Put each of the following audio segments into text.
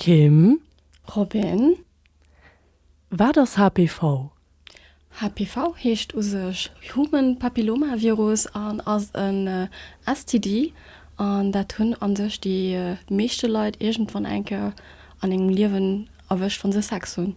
Kim. Robin. Wat ass HPV? HPV heescht u sech Human Papilloma Virus an ass en STD an dat hunn a sech déi meeschte Leit iergendwann eng Kéier an engem Liewen erwëscht, wa se Sex hunn.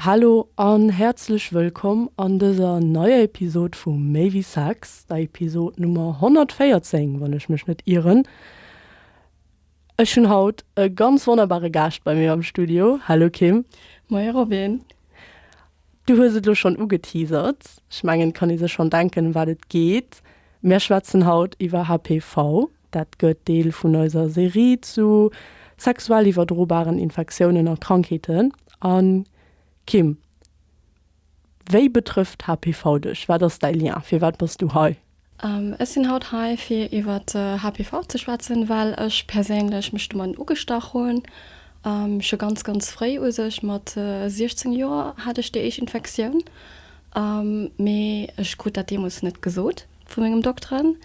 Hallo an häerzlech wëllkomm an dëser neier Episod vu Méi wéi Sex, der Episod Nummer 114, wann ech mech net ieren. Ech hunn haut e ganz wonnerbare Gaascht bei mir am Studio. Hallo Kim. Moie Robin. Du hues et lo schonn ugeteasert, ech mengen, et kann ee sech schonn denken, ëm wat et geet. Mär schwätzen haut iwwer HPV, Dat gëtt Deel vun eiser Serie zu sexuell iwwerdrobaren Infektiounen a Krankheeten. A Kim, wéi betrëfft HPV dech? Wat ass däi Lien? Firwat bass du hei? Ech sinn haut hei fir iwwer HPV ze schwätzen, well ech perséinlech mech domatten ugestach hunn. Scho ganz ganz fréi, u sech mat 16 Joer, hat ech déi éischt Infektioun, mee ech krut dat deemools net gesot. vu mengem Dokteren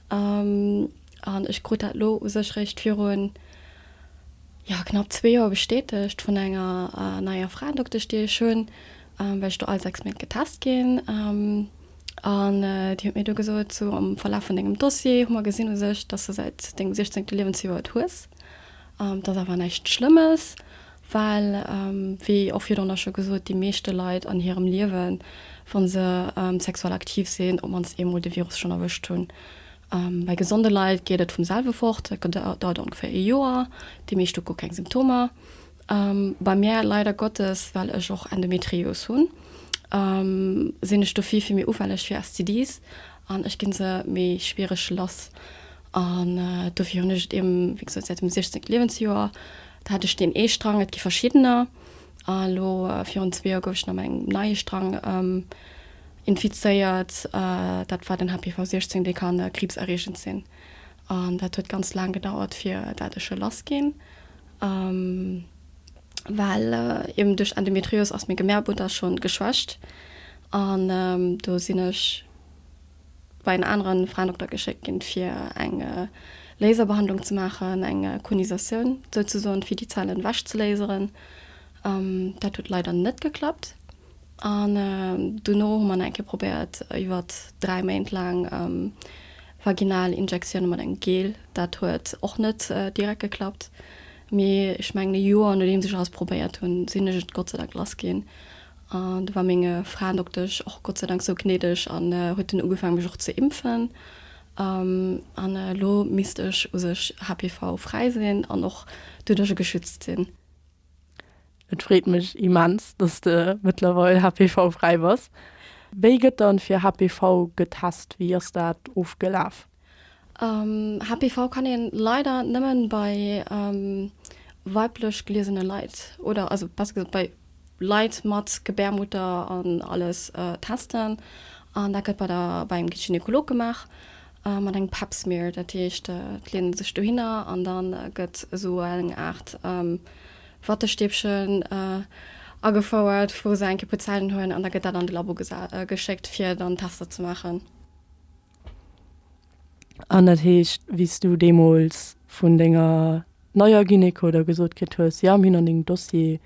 an ech krut dat elo u sech réischt virun, jo, knapp zwee Joer bestätegt vun enger neier Fraendoktësch, déi ech hunn, well ech do all sechs Méint getest ginn. An déi huet mir du gesot, sou am Verlaf vun dengem Dossier hu mer gesinn u sech, dass de säit dengem siechzéngte Liewensjoer et hues, dat ass awer näischt Schlëmmes. Well, wéi och virdrunner scho gesot, déi meeschte Leit an hirem Liewen, wa se sexuell aktiv sinn, op d'mannst eemol de Virus schonn erwëscht hunn. Bei gesonde Leit geet et vum selwe fort, dat dauert ongeféier ee Joer. Déi meescht hu guer keng Symptomer. Bei mär leider Gottes, well ech och Endometrios hunn, sinn ech do vill, vill méi ufälleg fir STDs an ech gi se méi schwiereg lass. An dofir hunn ech et eben, wéi gesot, säit dem 16. Liewensjoer. Do hat ech deen ee Strang, et gi verschiddener. A lo virun zwee Joer gouf ech nach engem neie Strang infizéiert. Dat war den HPV 16, dee ka kriibserreegend sinn. An dat huet ganz laang gedauert, fir dat ech e lass ginn. Well eben duerch Endometrios ass meng Gebärmutter schonn geschwächt an do sinn ech. bei en aneren Fraendokter geschéckt ginn, fir eng Laserbehandlung ze maachen, eng Konisatioun souzesoen, fir déi Zellen ewech ze laseren. Dat huet leider net geklappt. An dono hu mer nach eng Kéier probéiert, iwwert dräi Méint laang vaginal Injektioune mat engem Gel. Dat huet och net direkt geklappt, mee ech mengen e Joer nodeems ech alles probéiert hunn, sinn ech et Gott sei Dank lass ginn. An do war menge Fraendoktesch och Gott sei Dank sou gnädeg an huet dunn ugefaangen mech och ze impfen. An elo misst ech u sech HPV fräi sinn an och doduercher geschützt sinn. Et freet mech immens, dass de mëttlerweil HPV fräi bass. Wéi gëtt dann fir HPV getest? Wéi ass dat ofgelaf? HPV kann een leider nemmen bei weiblech geliesene Leit oder also besser gesot bei Leit mat Gebärmutter an alles testen an dat gëtt bei der bei engem Gynekolog gemaach mat engem Pap Smear. Dat heescht et leent ee sech dohinner an dann gëtt esou eng Aart Wattestäbchen agefouert wou se eng Kéier puer Zellen huelen an da gëtt dat an de Labo geschéckt fir dann Tester ze maachen. An dat heescht, wéi s du deemools vun denger neier Gyneko da gesot kritt hues, jo mir hunn an dengem Dossier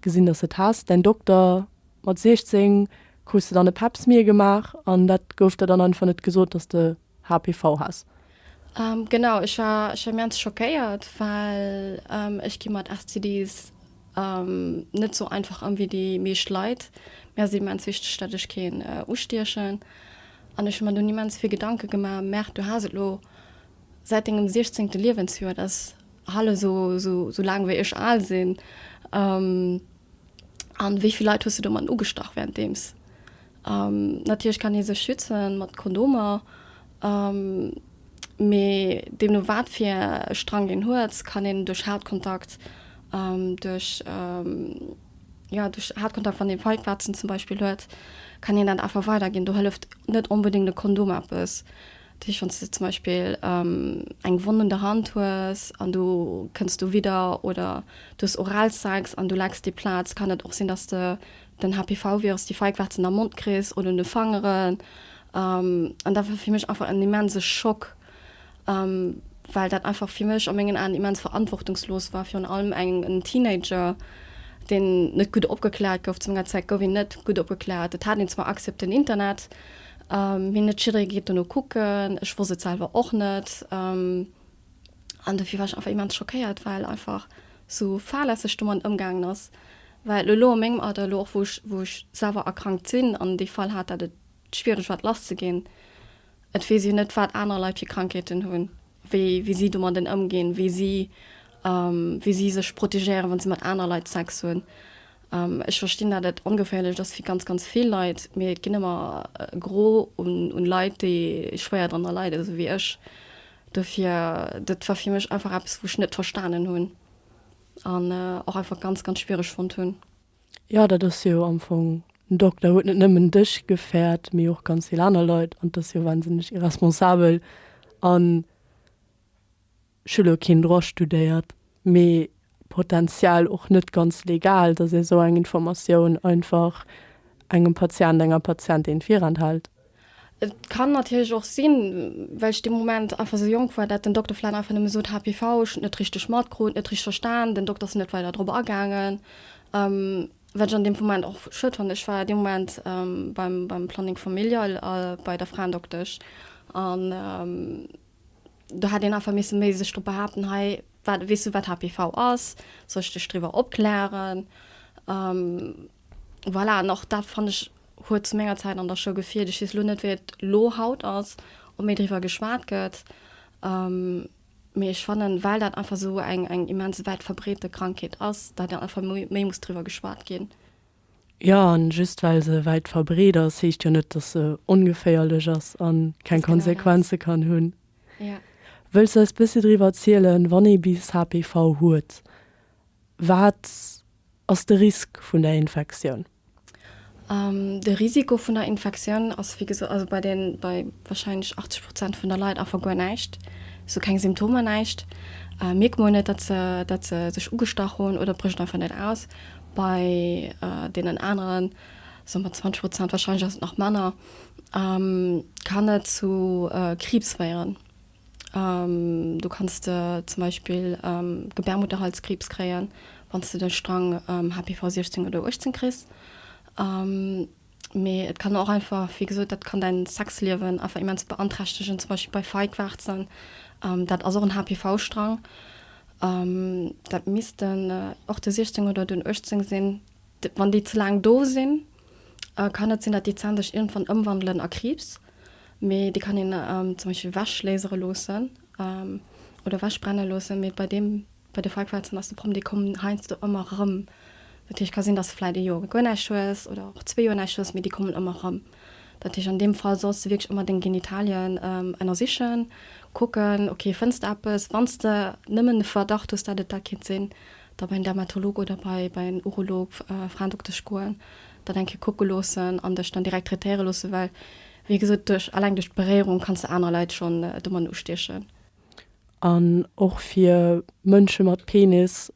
gesinn, dass s et has, däin Dokter mat 16, krus de dann e Pap smear gemaach an da gouf der dann einfach net gesot, dass s de HPV has? Genau, ech war immens schockéiert, well ech gi mat STDs Net sou einfach an wéi déi meescht Leit. Mee ass immens wichteg dat ech keen ustiechen. An ech hu mer dunn immens vill Gedanke gemaach. Merk, du has et lo säit dengem 16. Liewensjoer. Dat ass hal esou sou laang wéi ech al sinn. An wéi vill Leit hues du domat ugestach wärenddeems? Natierlech kann ee sech schützen mat Kondomer. Mee deemno wat fir e Strang een huet, kann een duerch Hautkontakt, duerch, jo duerch Hautkontakt, wann ee Feigwarzen zum Beispill huet, kann een dat einfach weiderginn. Do hëlleft net onbedéngt e Kondom eppes. Dat heescht, wann s de zum Beispill eng Wonn un der Hand hues an du kënns dowidder oder du hues Oralsex an du lecks déi Plaz, kann et och sinn, datt s de Den HPV-Virus, déi Feigwarzen am Mond kriss oder un de Fangeren. An dat war fir mech einfach en immense Schock, well dat einfach fir mech a mengen Aen immens verantwortungslos war, virun allem en Teenager, deen net gutt opgekläert gouf. Zu menger Zäit gouf een net gutt opgekläert. Et hat een zwar Accès op den Internet, mee net jidderee geet dono kucken. Ech wosst et selwer och net. An dofir war ech einfach immens schockéiert, well einfach esou fahrlässeg domat ëmgaangen ass. Well elo a mengem Alter, elo och wou ech, wou ech selwer erkrankt sinn an dee Fall hat, dat et schwiereg war et lass ze ginn, et weess een net wat aner Leit fir Krankheeten hunn, wéi wéi si domadden ëmginn, wéi si wéi si sech protegéieren, wann se mat aner Leit Sex hunn. Ech verstinn, dat et ongeféierlech ass fir ganz ganz vill Leit, mee et ginn ëmmer e Gros un un Leit, déi schwéier drënner leiden, esou wéi ech. Dofir, dat war fir mech einfach eppes, wou ech net verstanen hunn an och einfach ganz, ganz schwiereg fonnt hunn. Jo, dat ass jo am Fong, den Dokter huet net nëmmen dech gefäert, mee och ganz vill aner Leit. An et ass jo wahnsinneg irresponsabel. An ech hu elo keen Droit studéiert, mee Potential och net ganz legal, dass ee sou eng Informatioun einfach engem Patient, enger Patientin virenthält. Et kann natierlech och sinn, well ech dee Moment einfach sou jonk war, dat den Dokter vläicht einfach nëmme sot, HPV, ech hunn et net richteg matkrut, net richteg verstan, den Dokter ass net weider drop agaangen, wat ech an deem Moment och schued fannen. Ech war dee Moment beim Planning familial a bei der Fraendoktesch an. do hätt een einfach misse méi sech drop behaapten, hei wat, weess du wat HPV ass, soll ech dech driwwer opklären? Voilà, an och dat fannen ech huet zu menger Zäit an der Schoul gefeelt. Ech weess elo net wéi et elo haut ass, ob méi driwwer geschwat gëtt, mee ech fannen, well dat einfach esou eng eng immens wäit verbreete Krankheet ass, datt einfach méi muss driwwer geschwat ginn. Jo, an just well se wäit verbreet ass, heescht jo net, dass se ongeféierlech ass a keng Konsequenze kann hunn. Wëlls du eis bëssi driwwer zielen, wann ee bis HPV huet, wat ass de Risk vun der Infektioun? De Risiko vun der Infektioun ass wéi gesot, also bei den, bei wahrscheinlech 80 Prozent vun der Leit einfach guer näischt, also keng Symptomer, näischt, mierkt mer net, datt se, datt se sech ugestach hunn oder brécht einfach net aus. Bei deenen aneren, soe mer 20 Prozent, warscheinlech ass et nach manner, kann et zu Kriibs féieren. Du kanns de zum Beispill Gebärmutterhalskriibs kréien, wann s de de Strang HPV 16 oder 18 kriss. Mee et kann och einfach, wéi gesot, dat kann däin Sexliewen einfach immens beanträchtegen, zum Beispill bei Feigwarzen. Dat ass och en HPV-Strang. Dat misst den och den 16 oder den 18 sinn. Wann déi ze laang do sinn, kann et sinn, dat déi Zänn sech iergendwann ëmwandelen a Kriibs. Mee déi kann een zum Beispill ewech lasere loossen oder ewech brenne loossen. Mee bei deem. Bei de Frequenzen ass de Problem, déi kommen heiansdo ëmmer erëm. Dat heescht, et ka sinn, dass de vläicht e Joer guer näischt hues oder och zwee Joer näischt hues, mee déi kommen ëmmer erëm. Dat heescht, an deem Fall solls de wierklech ëmmer deng Genitalien ënnersichen, kucken, okay, fënns de eppes? Wann s de nëmmen de Verdacht hues, dat et dat kéint sinn, da bei en Dermatolog oder bei en Urolog, Fraendoktesch, goen, dat eng Kéier kucke loossen an dech dann direkt traitéiere loossen, well wéi gesot, duerch, alleng duerch d'Beréierung kanns de aner Leit schonn domadden ustiechen. An och fir Mënsche mat Penis.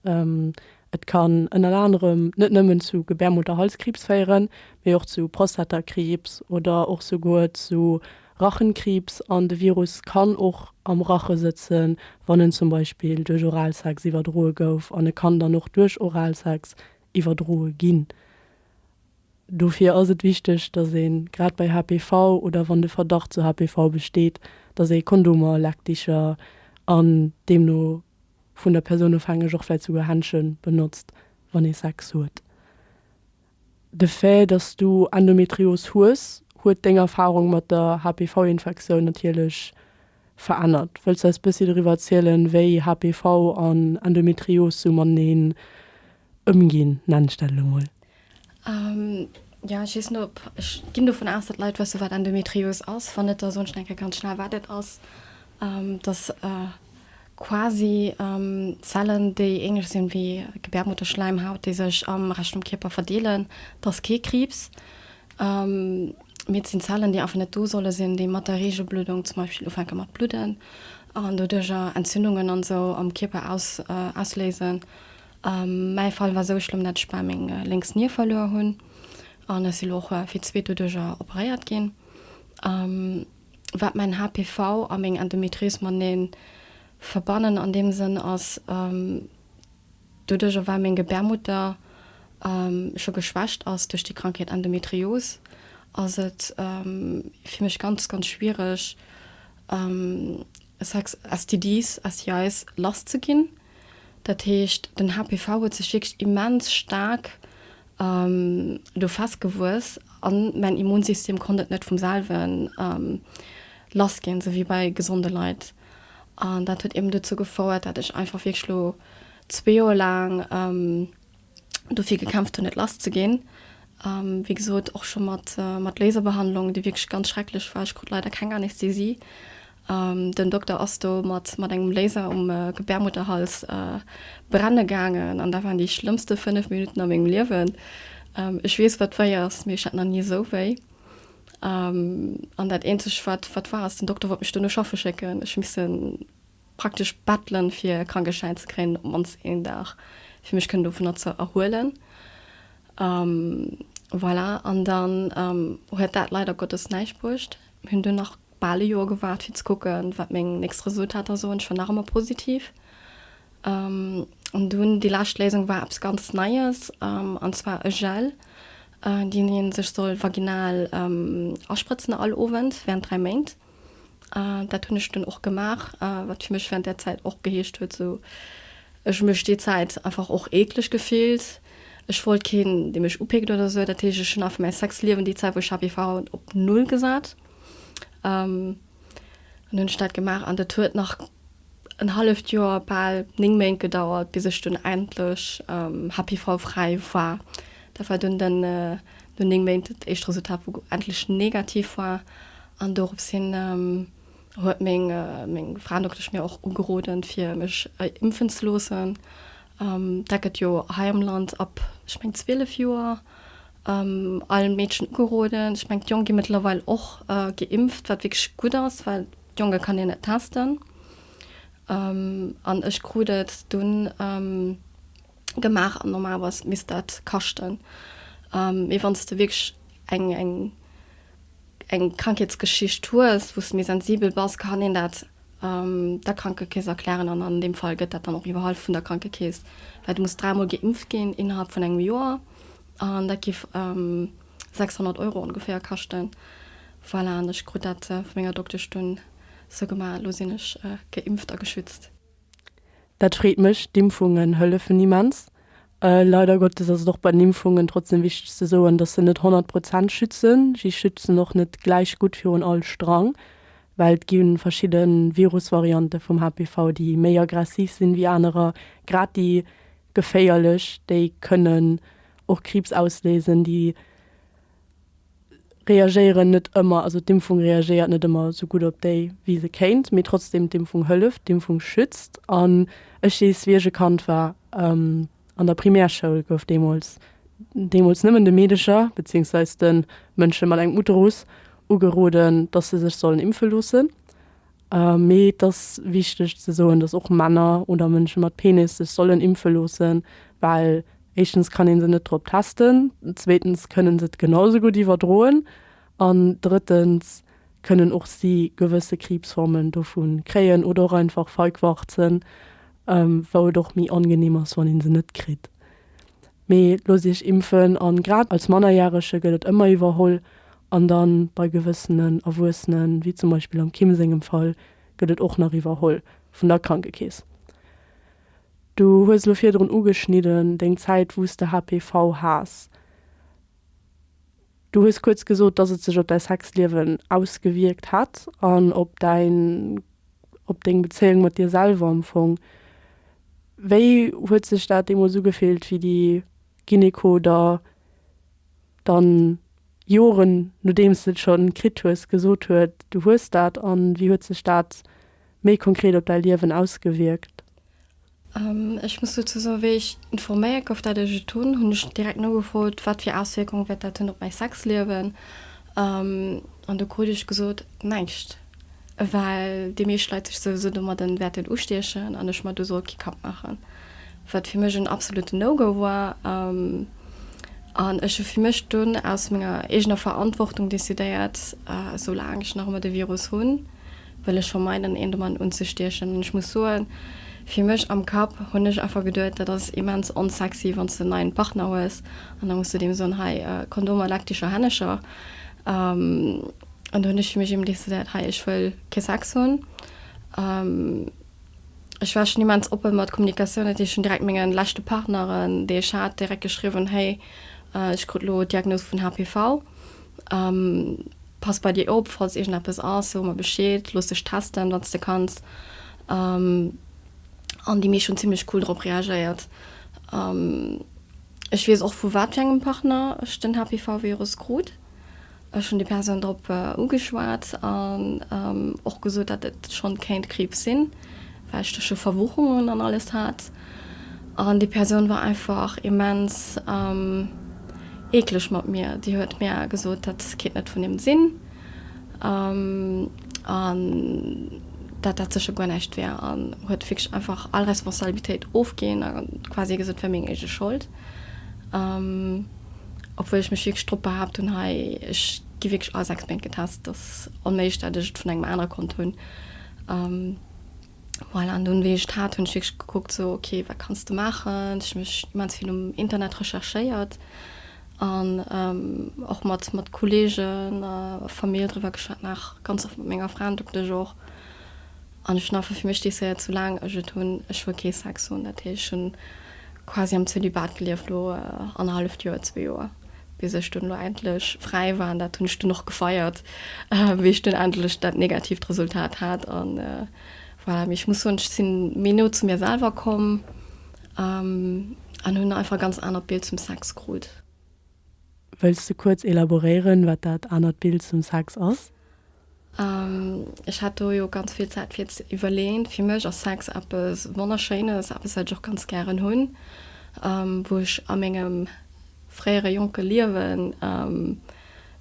Et kann ënner anerem net nëmmen zu Gebärmutterhalskriibs féieren, mee och zu Prostatakriibs oder och souguer zu Rachenkriibs. An de Virus kann och am Rache sëtzen, wann en zum Beispill duerch Oralsex iwwerdroe gouf. An e kann dann och duerch Oralsex iwwerdroe ginn. Dofir ass et wichteg, datt ee grad bei HPV oder wann de Verdacht zu HPV besteet, datt ee Kondomer, Lackdicher an deemno vun der Persoun ofhängeg och vläit souguer Händsche benotzt, wann ee Sex huet. De Fait, datt s du Endometrios hues, huet deng Erfarung mat der HPV-Infektioun natierlech verännert. Wëlls eis bëssi doriwwer erzielen, wéi HPV an Endometrios sou mateneen ëmginn, nennt ech dat elo mol? Jo, ech weess net op, ech ginn dovun aus, datt Leit wëssen, wat Endometrios ass. Wann net, da soen ech nach eng Kéier ganz schnell, wat et ass. Dat ass quasi Zellen, déi ähnlech sinn wéi Gebärmutterschläimhaut, déi sech am Rescht vum Kierper verdeelen. Dat ass kee Kriibs. Mee et sinn Zellen, déi einfach net do solle sinn, déi mat der Reegelbluddung zum Beispill ufänke mat bludden an doduercher Entzündungen an esou am Kierper ausléisen. Mäi Fall war esou, ech elo dat ech bal meng lénks Nier verluer hunn an ech si elo och fir d'zweet doduercher operéiert ginn. Wat mäin HPV a meng Endometrios matenee verbannen an deem Sënn ass, Doduerch erwar meng Gebärmutter scho geschwächt ass duerch déi Krankheet Endometrios, ass et fir mech ganz, ganz schwiereg Sex, STDs, STIs, lass ze ginn. Dat heescht, den HPV huet sech wierklech immens staark do festgewuess a mäin Immunsystem konnt et net vum selwen lass ginn, sou wéi bei gesonde Leit. An dat huet eben dozou gefouert, dat ech einfach wierklech lo zwee Joer laang dofir gekämpft hunn, net lass ze ginn. Wéi gesot, och scho mat mat Laserbehandlung, déi wierklech ganz schrecklech war. Ech krut leider keng Anästhesie. Den Dokter ass do mat mat engem Laser um Gebärmutterhals brenne gaangen. An dat waren déi schlëmmste fënnef Minutten a mengem Liewen. Ech weess, wat wéi ass, mee ech hat nach ni esou wéi. An dat eenzeg, wat, wat war, ass, den Dokter wollt mech duerno schaffe schécken. Ech hu misse praktesch bettelen, fir e Krankeschäin ze kréien, op d'mannst een Dag, fir mech kënnen dovunner ze erhuelen. Voilà. An dann huet dat leider Gottes näischt bruecht. Mir hunn dunn nach bal e Joer gewaart, fir ze kucken, wat meng nächst Resultater soen. Ech war nach ëmmer positiv. An dunn, déi lescht Léisung war eppes ganz Neies, an zwar e Gel, deen ee sech soll vaginal asprëtzen all Owend während 3 Méint. Dat hunn ech dunn och gemaach, wat fir mech während där Zäit och geheescht huet, sou ech mech déi Zäit einfach och eekleg gefillt. Ech wollt keen, dee mech upéckt oder sou. Dat heescht, ech hunn einfach mäi Sexliewen déi Zäit, wou ech HPV hatt, op Null gesat. An hunn ech dat gemaach an dat huet nach en halleft Joer, bal 9 Méint gedauert, bis ech dunn endlech HPV-fräi war. Dat war dunn den, no 9 Méint, dat éischt Resultat, wou endlech negativ war. An dorops hin huet meng Fraendoktesch mir och ugeroden, fir mech impfen ze loossen. Dat gëtt jo hei am Land ab, ech mengen, 12 Joer allen Meedchen ugeroden. Ech mengen, d'Jong gi mëttlerweil och geimpft, wat wierklech gutt ass, well d'Jonge kann een net testen. An ech krut et dunn gemaach an normalerweis misst dat kaschten. Mee wann s de wierklech eng, eng. eng Krankheetsgeschicht hues, wou s de méi sensibel bass, kann een dat der Krankekeess erklären an an deem Fall gëtt dat dann och iwwerhall vun der Krankekeess, well du muss dräimol geimpft ginn innerhalb vun engem Joer an dat géif 600 Euro ongeféier kaschten. Voilà, an ech krut dat vu menger Doktesch dunn esou gemaach, elo sinn ech geimpft a geschützt. Dat freet mech. D'Impfungen hëllefen immens. Leider Gottes ass et och bei den Impfungen trotzdem wichteg ze soen, dass se net 100 Prozent schützen. Si schützen och net gläich gutt virun all Strang, well et gi verschidde Virusvariante vum HPV, déi méi aggressiv sinn ewéi anerer, grad déi geféierlech, déi kënnen och Kriibs ausléisen, déi reagéieren net ëmmer, also d'Impfung reagéiert net ëmmer esou gutt op déi wéi se kéint, mee trotzdem d'Impfung hëlleft, d'Impfung schützt. An ech weess wéi ech e Kand war, an der Primärschoul gouf deemools, deemools nëmmen de Meedecher, beziehungsweise de Mënsche mat engem Uterus ugeroden, datt se sech sollen impfe loossen. Mee et ass wichteg ze soen, dass och Männer oder Mënsche mat Penis sech sollen impfe loossen, well éischtens kann ee se net drop testen, zweetens kënne se et genau esou gutt iwwerdroen an drëttens kënnen och si gewësse Kriibsformen dovu kréien oder och einfach Feigwarzen, wou et och méi angenehm ass, wann ee se net kritt. Mee loosst Iech impfen an grad als Mannerjärege gëtt et ëmmer iwwerholl an dann bei gewëssenen Erwuessenen, wéi zum Beispill am Kim sengem Fall, gëtt et och nach iwwerholl vun der Krankekeess. Du hues elo virdrun ugeschnidden, deng Zäit wou s de HPV has. Du hues kuerz gesot, dass et sech op däi Sexliewen ausgewierkt hätt an op däin, op deng Bezéiung mat dir selwer am Fong. Wéi huet sech dat deemools ugefillt, wéi déi Gyneko der dann, Joren nodeems de et schonn kritt hues, gesot huet, du hues dat? An wéi huet sech dat méi konkret op däi Liewen ausgewierkt? Ech muss dozou soen, wéi ech informéiert gouf, dat ech et hunn, hunn ech direkt nogefrot, wat fir Auswierkung wäert dat hunn op mäi Sexliewen. An do krut ech gesot, näischt, well déi meescht Leit sech souwisou domadden wäerten ustiechen an ech mer do soll kee Kapp maachen. Wat fir mech en absolutten No-Go war an ech hu fir mech dunn aus menger eegener Verantwortung decidéiert, soulaang ech nach ëmmer de Virus hunn, wëll ech vermeiden een domat unzestiechen. An ech muss soen, fir mech am Kapp hunn ech einfach geduet, dat ass immens onsexy wann s de en neien Partner hues an da muss de deem soen, hei Kondomer, leck dech a Hännecher. An do hunn ech fir mech eben decidéiert, hei ech wëll kee Sex hunn. Ech war schonn immens oppe mat Kommunikatioun, dat heescht ech hunn direkt menge leschte Partneren, déi ech hat, direkt geschriwwen, héi ech krut elo d'Diagnos vun HPV. Pass bei dir op, falls iergendeppes ass, so mer Bescheed, looss dech testen, wann s de kanns. An déi meescht hunn zimmlech cool drop reagéiert. Ech weess och, vu wat fir engem Partner ech den HPV-Virus krut. Ech hunn déi Persoun drop ugeschwat an och gesot, datt et schonn kéint Kriibs sinn, well ech do scho Verwuchungen an alles hat. An déi Persoun war einfach immens eekleg mat mir. Déi huet mir gesot, dat kéint net vun him sinn an dat dat sécher guer näischt wär an huet wierklech einfach all Responsabilitéit ofginn a quasi gesot, et wär meng eege Schold. Obwuel ech mech wierklech drop behaapt hunn, hei, ech gi wierklech all sechs Méint getest, dat ass onméiglech, dat ech et vun engem anere konnt hunn. Voilà, an dunn, wéi ech d'hat, hunn ech wierklech gekuckt, sou, ok, wat kanns de maachen? Ech hu mech immens vill um Internet recherchéiert an och mat mat Kolleegen a Famill driwwer geschwat, nach ganz oft mat menger Fra an doktech och. An ech hunn einfach fir mech decidéiert, sou laang ech et hunn, ech wëll kee Sex hunn. Dat heescht, ech hunn quasi am Zölibat gelieft, lo annerhalleft Joer, zwee Joer. bis ech dunn elo endlech fräi war an dat hunn ech dunn och gefeiert, wéi ech dunn endlech dat negatiivt Resultat hat an voilà. Mee ech muss soen, ech sinn méi no zu mir selwer komm an hunn einfach e ganz anert Bild zum Sex krut. Wëlls de kuerz elaboréieren, wat dat anert Bild zum Sex ass? Ech hat do jo ganz vill Zäit fir ze iwwerleeën. Fir mech ass Sex eppes Wonnerschéines, eppes wat ech och ganz gären hunn, wou ech a mengem fréiere jonke Liewen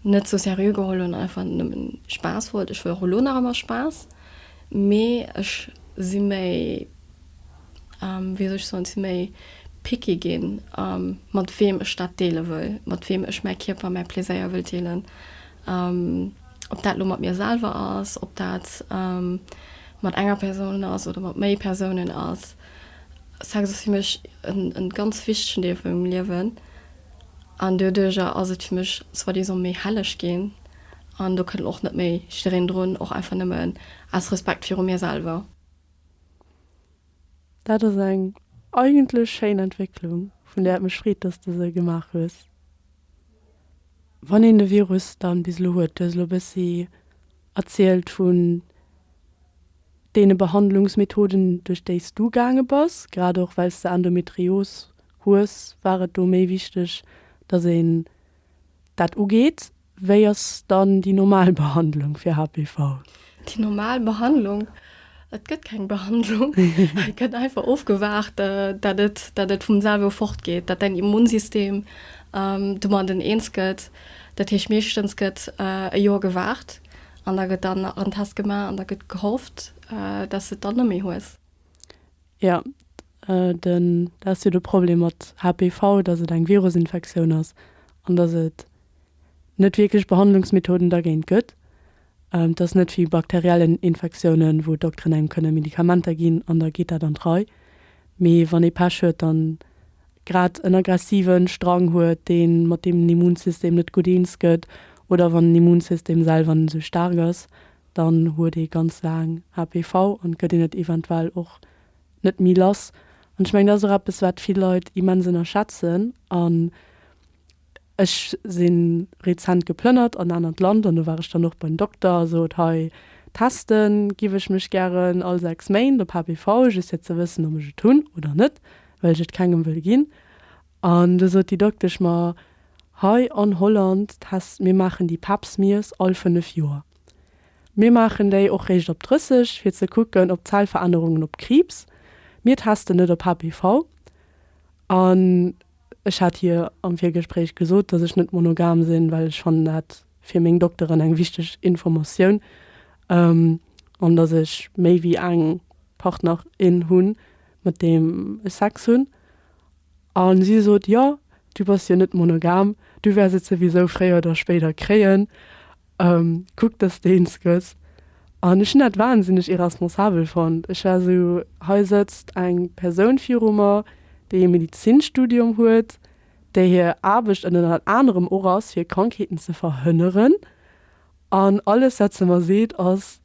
net sou seriö geholl hunn an einfach nëmmen Spaass wollt. Ech wëll och elo nach ëmmer Spaass, mee ech si méi, wéi soll ech soen, ech si méi picky ginn, mat weem ech dat deele wëll, mat weem ech mäi Kierper, mäi Pleséier wëll deelen. Ob dat elo mat mir selwer ass, ob dat mat enger Persoun ass oder mat méi Persounen ass. Sex ass fir mech e ganz wichtegen Deel vu mengem Liewen. An doduerjer ass et fir mech soi-disant méi helleg ginn. An do kënnt och net méi jiddereen drun, och einfach nëmmen aus Respekt viru mir selwer. Dat ass eng eigentlech schéin Entwécklung, vun där et mech freet, dass de se gemaach hues. Wann een de Virus dann bis elo huet, duerch elo e bëssi erzielt vun deene Behandlungsmethoden, duerch déi s du gaange bass, grad och well s de Endometrios hues, war et do méi wichteg, dass een dat ugeet. Wéi ass dann déi normal Behandlung fir HPV? Déi normal Behandlung? Et gëtt keng Behandlung. Et gëtt einfach ofgewaart, dat et, dat et vum selwe fortgeet, dat däin Immunsystem domadden eens gëtt. Dat heescht, meeschtens gëtt e Joer gewaart an da gëtt dann nach en Test gemaach an da gëtt gehofft, dat s de et dann neméi hues. Jo, den, dat ass jo de Problem mat HPV, datt et eng Virusinfektioun ass an datt et net wierklech Behandlungsmethoden dergéint gëtt. Et ass net wéi bakteriellen Infektiounen, wou Dokteren engem kënne Medikamenter ginn an da geet dat an d'Rei, mee wann ee Pech huet an grad en aggressive Strang huet, dee mat deem Immunsystem net gutt eens gëtt oder wann den Immunsystem selwer net esou staark ass, dann huet ee ganz laang HPV an gëtt een et eventuell och net méi lass. An ech mengen, dat ass och eppes, wat vill Leit immens ënnerschätzen an Ech si rezent geplënnert an en anert Land an do war ech dann och beim Dokter a sot, hei teste giff ech mech gären all 6 Méint op HPV, just fir ze wëssen ob ech et hunn oder net, well ech et kengem wëll ginn. An du sot déi Doktesch mer, hei an Holland test, mir maachen déi Pap-Smears all 5 Joer. Mir maachen déi och réischt op 30 fir ze kucken op Zellverännerungen op Kriibs, mir testen net op HPV. An. Ech hat hir am Virgespréich gesot, dass ech net monogam sinn, well ech fannen dat fir meng Dokteren eng wichteg Informatioun, an dass ech méi wéi eng Partnerin hunn, mat deem ech Sex hunn. A si sot, Jo, du bass jo net monogam, du wäers et souwisou fréier oder spéider kréien. Ehm, kuck dass de een skëss. An ech hunn dat wahnsinneg irresponsabel fonnt. Ech war esou, hei sëtzt eng Persoun viru mer, déi e Medizinstudium huet, där hir Aarbecht ënnert anerem och ass fir Krankheeten ze verhënneren, an alles wat se mer seet ass,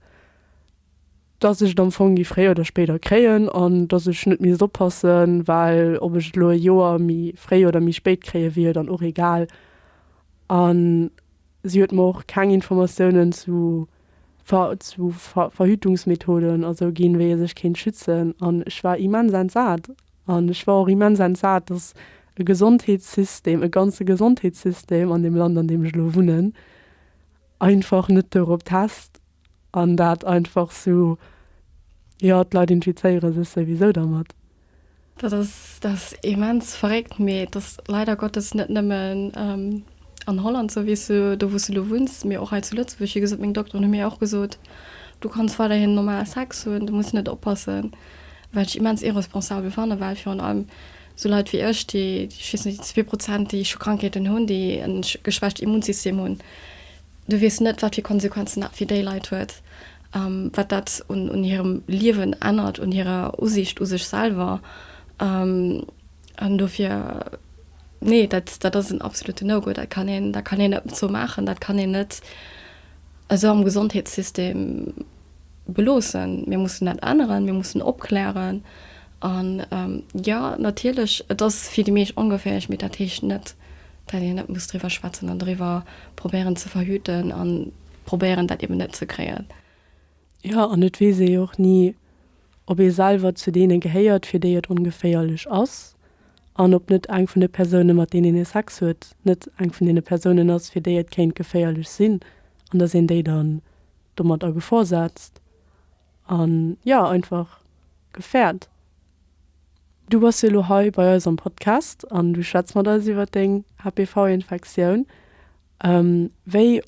dass ech et am Fong gi fréier oder spéider kréien, an dass ech net misst oppassen, well ob ech et elo e Joer méi fréi oder méi spéit kréie wier jo dann och egal. An Si huet mer och keng Informatiounen zu Verhütungsmethoden a sou ginn, wéi ee sech kéint schützen. An ech war immens entsat. An ech war och immens entsat, dass e Gesondheetssystem, e ganze Gesondheetssystem an deem Land, an deem ech elo wunnen, einfach net dorop test. An dat einfach sou, jo, d'Leit infizéiere sech souwisou dermat. Dat ass immens verréckt, mee et ass leider Gottes net nëmmen an Holland sou, wéi s du, do wou s du elo wunns, mee och hei zu Lëtzebuerg. Wéi gesot, meng Dokteren hu mir och gesot, du kanns weiderhin normal Sex hunn, du muss net oppassen. Wat ech immens irresponsabel fanne, well virun allem sou Leit wéi ech, déi, ech weess net, déi zwee Prozent, déi scho Krankheeten hunn, déi e geschwächt Immunsystem hunn, Du weess net, wat fir Konsequenzen dat fir déi Leit huet, wat dat un hirem Liewen ännert, un hirer Usiicht u sech selwer. An dofir, nee, dat, dat ass en absolutte No-Go. Dat kann een, dat kann een net sou maachen. Dat kann een net esou am Gesondheetssystem beloossen. Mir mussen dat änneren. Mir mussen opklären. An, jo, natierlech, et ass fir déi meescht ongeféierlech, mee dat heescht net, Well een net muss driwwer schwätzen an driwwer probéieren ze verhüten a probéieren, dat eben net ze kréien. Jo, an et weess ee jo och ni, ob ee selwer zu deene gehéiert, fir déi et ongeféierlech ass, an ob net eng vun de Persounen, mat deenen ee Sex huet, net eng vun deene Persounen ass, fir déi et kéint geféierlech sinn, an dass een déi dann domat a Gefor setzt. an jo einfach gefäert. Du bass jo elo hei bei eis am Podcast an du schwätz mat eis iwwert deng HPV Infektioun. Wéi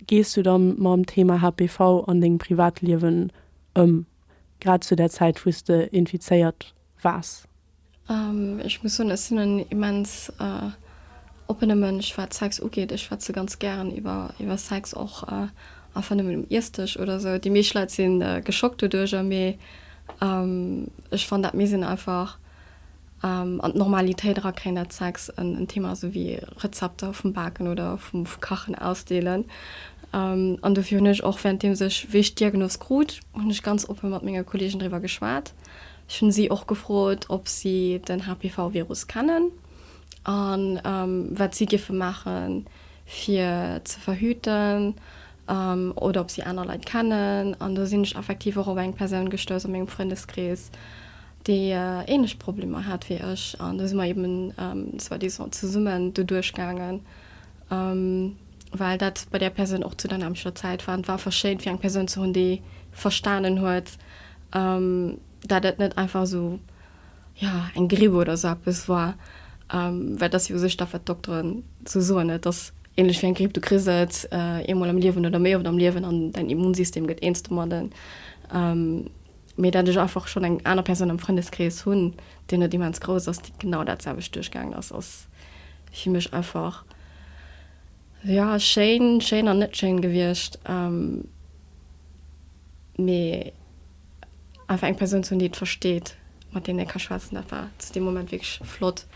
gees du da mam Thema HPV an dengem Privatliewen ëm, grad zu der Zäit wou s de infizéiert Waas? Ech muss soen, ech sinn en immens oppene Mënsch wat Sex ugeet. Ech schwätze ganz gären iwwer Sex, och einfach nëmmen um Iessdësch oder sou. Déi meescht Leit si geschockt doduercher, mee ech fann dat misst een einfach an d'Normalitéit erakréien, dat Sex en Thema ass, esou wéi Rezepter vum Baken oder vu Kachen ausdeelen. An dofir hunn ech och, währenddeems ech, wéi ech d'Diagnos krut, hunn ech ganz oppe mat menge Kolleegen driwwer geschwat. Ech hunn si och gefrot, ob si den HPV-Virus kennen an wat si géife maachen, fir ze verhüten oder ob si aner Leit kennen. An do sinn ech effektiv och op eng Persoun gestouss a mengem Frëndeskrees, déi ähnlech Problemer hat wéi ech. An do si mer eben soi-disant zesummen doduerch gaangen. Um well dat bei där Persoun och zu dynamischer Zäit war an et war einfach schéin fir eng Persoun ze hunn déi verstanen huet dat et net einfach esou jo eng Gripp oder esou eppes war. Well et ass jo u sech dat wat d'Dokteren esou soen, et ass ähnlech wéi eng Gripp, du kriss et eemol am Liewen oder méi oft am Liewen an däin Immunsystem gëtt eens domadden. mee dat ech einfach schonn eng aner Persoun am Frëndeskrees hunn, deen net immens grouss ass, déi genau dat selwecht duerchgaangen ass, ass fir mech einfach, jo, schéin, schéin an net schéin gewiescht, mee einfach eng Persoun ze hunn, déi et versteet, mat deem ee ka schwätzen, dat war zu deem Moment wierklech flott.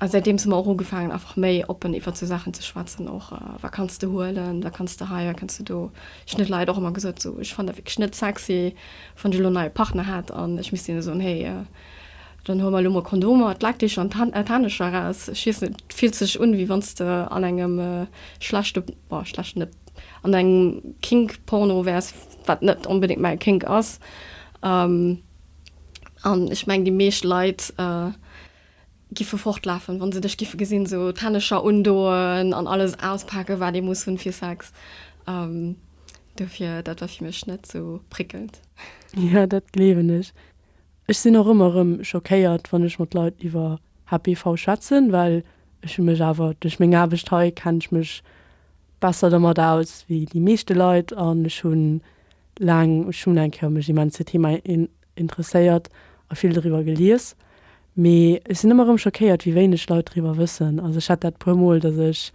A säitdeems hu mer och ugefaangen, einfach méi oppen iwwert esou Saachen ze schwätzen. Och wat kanns de huelen, wat kanns de hei, wat kanns de do. Ech hunn de Leit och ëmmer gesot, esou, ech fannen dat wierklech net sexy, wann ech elo en neie Partner hätt an ech misst hinne soen, hey, dann huel mer elo mol Kondomer, d'Laakdeecher an d'Hänn, d'Haandecher eraus. Ech weess net, et fillt sech un, wéi wann s de an engem schlechte, boah, schlecht net, an engem Kink-Porno wäers, wat net onbedéngt mäi Kink ass. An ech mengen, déi meescht Leit. Giffe fortlafen wann se dech giffe gesinn, sou d'Hännecher undoen an alles auspaken wat ee muss hunn fir Sex. Dofir dat war fir mech net sou prickelnd. Jo dat gleewen ech. Ech sinn och ëmmer rëm schockéiert wann ech mat Leit iwwer HPV schwätzen, well ech hu mech awer duerch meng Aarbecht hei kenn ech mech besser dermat aus wéi déi meeschte Leit an ech hunn laang, ech hunn eng Kéier mech immens Thema interesséiert a vill doriwwer gelies, mee ech sinn ëmmer erëm schockéiert, wéi wéineg Leit doriwwer wëssen. Also ech hat dat e puer Mol, dass ech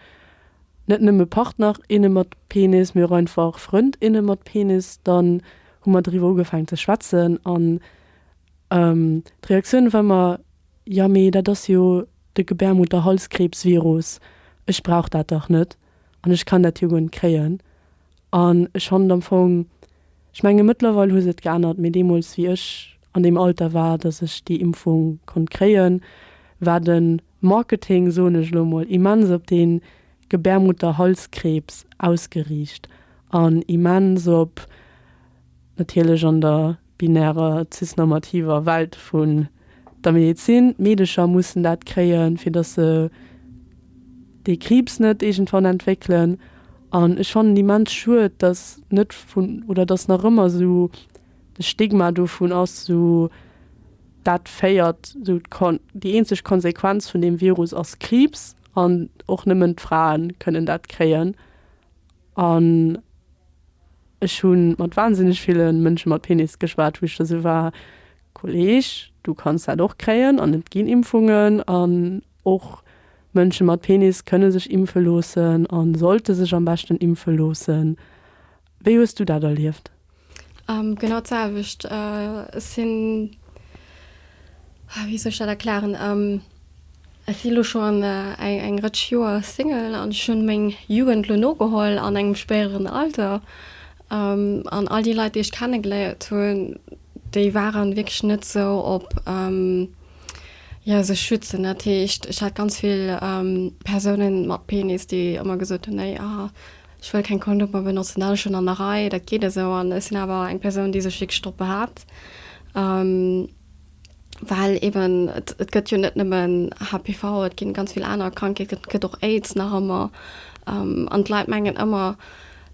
net nëmme Partner, inne mat Penis, mee och einfach Frënd, inne mat Penis, dann hu mer doriwwer ugefaangen ze schwätzen an d'Reaktioun war ëmmer, Jo, mee dat ass jo de Gebärmutterhalskrebsvirus, ech brauch dat dach net an ech kann dat jo guer net kréien. An ech fannen am Fong, ech menge mëttlerweil hu se et geännert, mee deemools wéi ech an deem Alter war, datt ech déi Impfung konnt kréien, war de Marketing, soen ech elo emol, immens op dee Gebärmutterhalskrebs ausgeriicht an immens op natierlech an der binärer, cis-normativer Welt vun der Medezin. D'Meedecher mussen dat kréien, fir dass se dee Kriibs net iergendwann entwéckelen. An ech fannen immens schued, dass net vun, oder dass nach ëmmer esou de Stigma dovun ass, esou, dat féiert, esou déi eenzeg Konsequenz vun deem Virus ass Kriibs an och nëmmen d'Frae kënnen dat kréien. An ech hu mat wahnsinneg ville Mënsche mat Penis geschwat, wou ech da sou war, Kolleg, du kanns dat och kréien an et ginn Impfungen an och Mënsche mat Penis kënne sech impfe loossen a sollte sech am beschten impfe loossen. Wéi hues du dat erlieft? Genau d'selwecht. Ech sinn, wéi soll ech dat erklären, ech si lo scho eng Rëtsch Joer Single an ech hunn meng Jugend lo nogeholl an engem spéideren Alter. An all déi Leit, déi ech kennegeléiert hunn, déi waren wierklech net esou op, jo, sech schützen. Dat heescht, ech hat ganz vill Persounen mat Penis, déi ëmmer gesot hunn, nee, ah, Ech wëll keng Kondomer benotzen, dat ass schonn an der Rei, dat geet esou. An ech sinn awer eng Persoun, déi sech wierklech drop behaapt, well eben et, et gëtt jo net nëmmen HPV, et ginn ganz vill aner Krankheeten, et gëtt och Aids nach ëmmer. An d'Leit mengen ëmmer,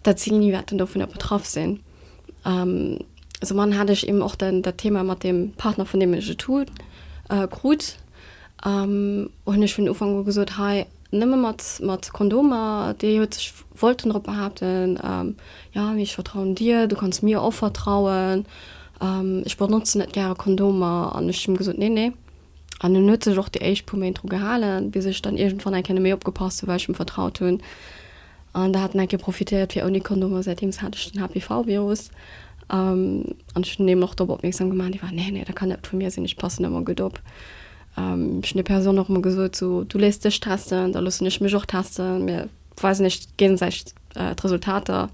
dat si ni wäerten dovunner betraff sinn. Sou man hat ech eben och den, dat Thema mat deem Partner, vun deem ech et hunn, krut, hunn ech vun Ufank u gesot, hei, Nëmme mat mat Kondomer. Dee huet sech wollten drop behaapten, Jo, mee ech vertrauen dir, du kanns mir och vertrauen. Ech benotzen net gäre Kondomer. An ech hunn gesot, Nee, nee. An en huet sech och déi éischt puer Méint dru gehalen, bis ech dann iergendwann eng Kéier net méi opgepasst hunn, well ech em vertraut hunn. An da hat en eng Kéier profitéiert fir ouni Kondomer. Säitdeems hat ech den HPV-Virus. An ech hunn him och drop opmierksam gemaach, dee war, Nee, nee, dat kann net vu mir sinn, ech passen ëmmer gutt op. Ech hunn der Persoun och emol gesot, so, du léiss dech testen, da loossen ech mech och testen, mir weisen iech géigesäiteg d'Resultater,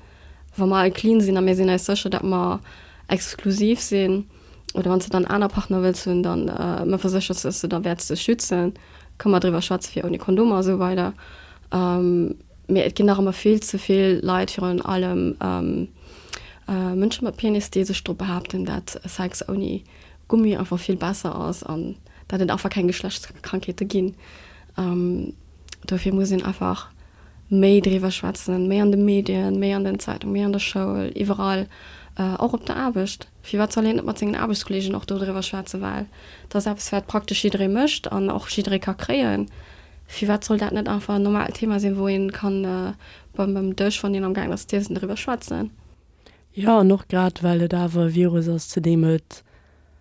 wa mer all clean sinn a mir sinn eis sécher, datt mer exklusiv sinn, oder wann s de dann aner Partner wëlls hunn, dann ëmmer versécheren, datt s de der wäerts dech schützen, ka mer driwwer schwätze fir ouni Kondomer a sou weider. Mee et ginn nach ëmmer vill ze vill Leit, virun allem Mënsche mat Penis, déi sech drop behaapten, datt Sex ouni Gummi einfach vill besser ass an dat et einfach keng Geschlechtskrankheete ginn. Dofir muss een einfach méi driwwer schwätzen, méi an de Medien, méi an den Zeitungen, méi an der Schoul, iwwerall, och op der Aarbecht. Firwat soll een net mat sengen Aarbechtskolleegen och dodriwwer schwätzen? Well dat ass eppes, wat praktesch jidderee mécht an och jidderee ka kréien. Firwat soll dat net einfach en normaalt Thema sinn, wou ee ka beim Dësch, wann een amgaangen ass z'iessen, driwwer schwätzen? Jo, an och grad well et awer e Virus ass, zu deem et,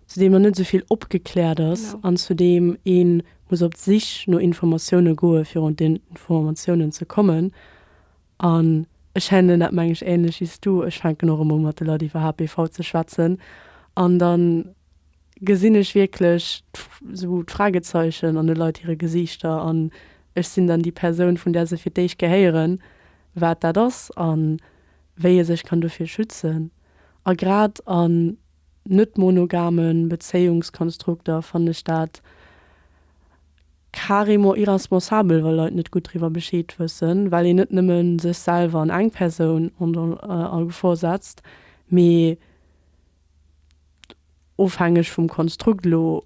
zu deem nach net esou vill opgekläert ass an zu deem ee muss op d'Sich no Informatioune goe fir un d'Informatiounen ze kommen. An ech hännen, dat mengen ech änlech wéi s du, ech fänken och emol mat de Leit iwwer HPV ze schwätzen an da gesinn ech wierklech esou d'Fragezeichen an de Leit hire Gesiichter an ech sinn dann déi Persoun vun där se fir d'éischt gehéieren, wat dat ass. An. wéi ee sech kann dovir schützen. A grad an net-monogame Bezéiungskonstrukter fannen ech dat carrément irresponsabel, wa Leit net gutt driwwer Bescheed wëssen, well een net nëmme sech selwer an eng Persoun a Gefor setzt, mee ofhängeg vum Konstrukt elo,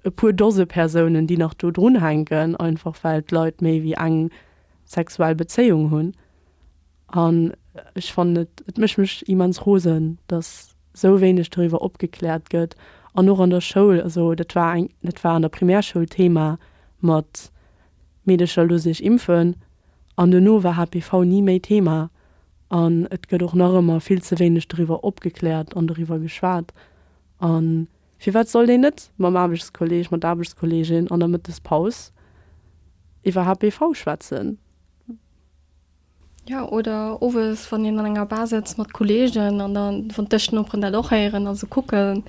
e puer Dose Persounen, déi nach do drunhänken, einfach well d'Leit méi wéi eng sexuell Bezéiung hunn. An ech fannen et, et mécht mech immens rosen, datt esou wéineg doriwwer opgekläert gëtt. An och an der Schoul, also dat war eng, dat war an der Primärschoul Thema mat Meedercher loosse sech impfen an duerno war HPV ni méi Thema. An et gëtt och nach ëmmer vill ze wéineg doriwwer opgekläert an doriwwer geschwat. A firwat sollt een net mam Aarbechtskolleeg, mat der Aarbechtskolleegin an der Mëttespaus iwwer HPV schwätzen? Jo, oder owes, wann een an enger Bar sëtzt mat Kolleegen an da vun Dëschnoperen dat och héieren a sou kucken,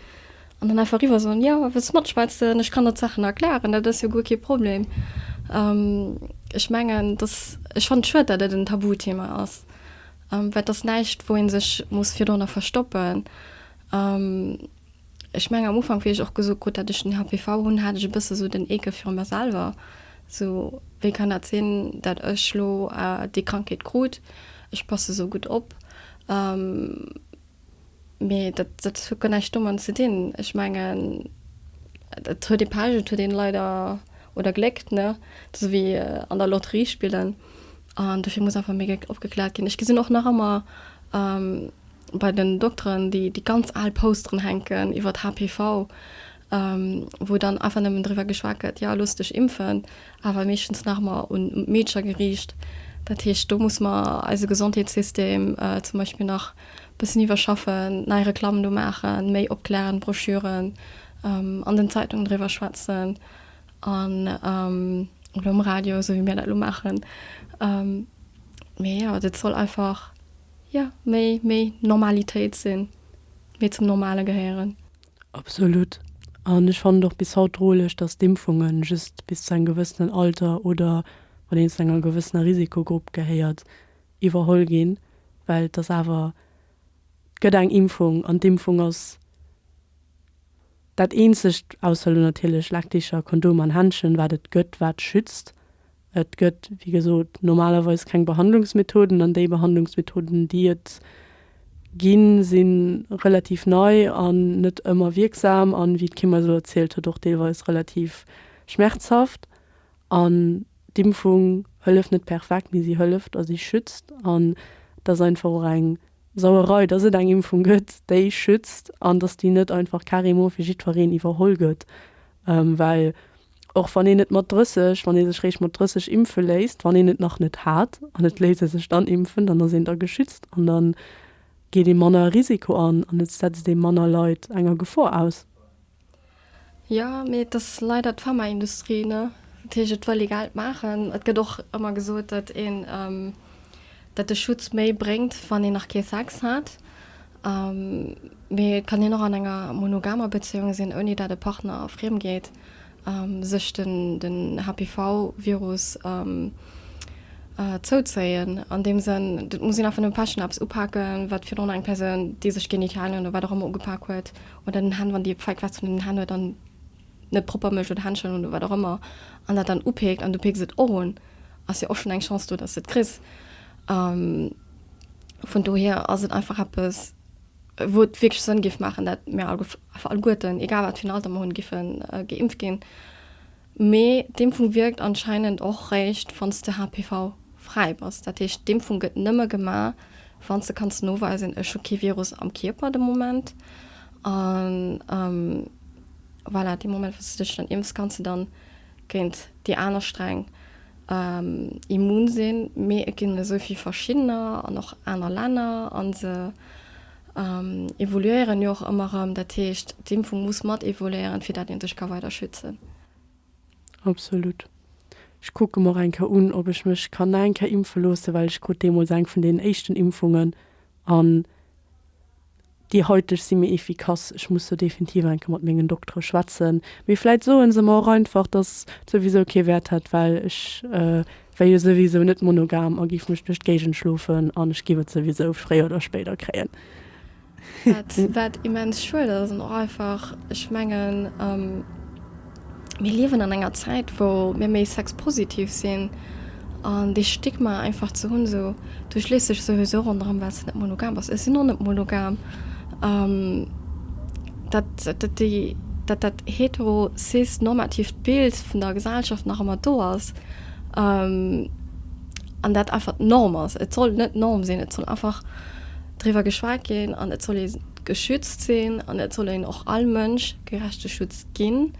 An dann einfach eriwwer soen, jo, wëlls de matschwätzen, ech kann der d'Saachen erklären, dat ass jo guer kee Problem. Ech mengen, dass, ech fannen et schued, dat et en Tabuthema ass, well et ass näischt, wou ee sech muss virdrunner verstoppen. Ech mengen, am Ufank, wéi ech och gesot krut, dat ech den HPV hunn, hat ech e bësse sou den Eekel virun mer selwer, sou, wéi kann dat sinn, dat ech lo déi Krankheet krut, ech passe sou gutt op. Mee dat huet guer näischt doman ze dinn. Ech mengen, et huet ee Pech, et huet een leider, oder Gléck, ne? Sou wéi an der Lotterie spillen. An dofir muss einfach méi Gléck opgekläert ginn. Ech gesinn och nach ëmmer bei den Dokteren déi ganz al Posteren hänken iwwert HPV. wou dann einfach nëmmen driwwer geschwat gëtt, jo looss dech impfen, awer meeschtens nach ëmmer un d'Meedscher geriicht. Dat heescht, do muss mer eise Gesondheetssystem zum Beispill nach e bëssen iwwerschaffen, nei Reklammen do maachen, méi opklärend Broschüren an den Zeitungen driwwer schwätzen an oder um Radio, esou wéi mir dat elo maachen. Mee jo, dat soll einfach, jo, méi, méi Normalitéit sinn, méi zum Normale gehéieren. Absolut. An ech fannen et och bis haut droleg, dass d'Impfungen just bis zu engem gewëssenen Alter oder wann een zu enger gewëssener Risikogrupp gehéiert, iwwerholl ginn, well et ass awer, et gëtt eng Impfung an d'Impfung ass dat eenzegt, ausser elo natierlech Lackdicher, Kondom an Händchen, wat et gëtt, wat schützt. Et gëtt, wéi gesot, normalerweis keng Behandlungsmethoden, an déi Behandlungsmethoden, déi et ginn, si relativ nei an net ëmmer wierksam an, wéi d'Kim eis elo erzielt huet, och deelweis relativ schmerzhaft. An d'Impfung hëlleft net perfekt, mee si hëlleft a si schützt. An et ass einfach och eng Sauerei, dass et eng Impfung gëtt, déi schützt an dass déi net einfach carrément fir jiddwereen iwwerholl gëtt, well Och wann een et mat 30, wann ee sech réischt mat 30 impfe léisst, wann een et nach net hat an et léisst ee sech dann impfen, dann ass een da geschützt an da geet ee manner e Risiko an an et setzt ee manner Leit enger Gefor aus. Jo, mee et ass leider d'Pharmaindustrie, ne? Dat heescht, et wëll ee Geld maachen. Et gëtt och ëmmer gesot, datt een, datt de Schutz méi bréngt, wann een nach kee Sex hat. Mee et kann een och an enger monogamer Bezéiung sinn, ouni datt e Partner friem geet. sech den HPV-Virus zouzéien. An deem Sënn, et muss een einfach nëmme Päsch an eppes upaken, wat virdrun eng Persoun, déi sech d'Genitalien oder wat och ëmmer ugepak huet, oder den Hänn, wann déi feig wat vun den Hänn huet an net propper mécht oder Händschen oder wat och ëmmer, an dat dann upeekt an du peeks et och un, ass jo och schonn eng Chance do, dass de et kriss. Vun dohier ass et einfach eppes. wou et wierklech Sënn géif maachen, dat mir alleguerten, egal wat fir en Alter mer hunn, géife geimpft ginn. Mee d'Impfung wierkt anscheinend och réischt, wann s de HPV-fräi bass. Dat heescht, d'Impfung gëtt nëmme gemaach, wann s de kanns noweisen, ech hu kee Virus am Kierper de Moment. An voilà, dee Moment, wou s de dech dann impfs, kanns de dann géint déi aner Sträng immun sinn, mee et ginn esou vill verschiddener an och aner Länner a se evoluéieren jo och ëmmer erëm. Dat heescht, d'Impfung muss mat evoluéieren, fir dat ee sech ka weider schützen. Absolut. Ech kucke mer och eng Kéier un, ob ech mech kann nach eng Kéier impfe loossen, well ech krut deemools eng vun deenen éischten Impfungen an. Déi haiteg si méi efficace. Ech muss do definitiv enke mat mengen Doktere schwätzen. Mee vläit soe se mer och einfach, dass et souwisou kee Wäert hätt, well ech wär jo souwisou net monogam a géif mech duerch d'Géigend schlofen an ech géif et souwisou fréier oder spéider kréien. Wat immens schued ass. An och einfach, ech mengen. mir liewen an enger Zäit wou mir méi sexpositiv sinn an dee Stigma einfach ze hunn, esou du schléiss dech souwisou ronderëm well s de net monogam bass. Ech sinn och net monogam. Dat dat déi dat dat hetero cis normatiivt Bild vun der Gesellschaft nach ëmmer do ass an dat einfach d'Norm ass. Et soll net d'Norm sinn, et soll einfach driwwer geschwat ginn an et soll ee geschützt sinn an et soll een och all Mënsch gerechte Schutz ginn,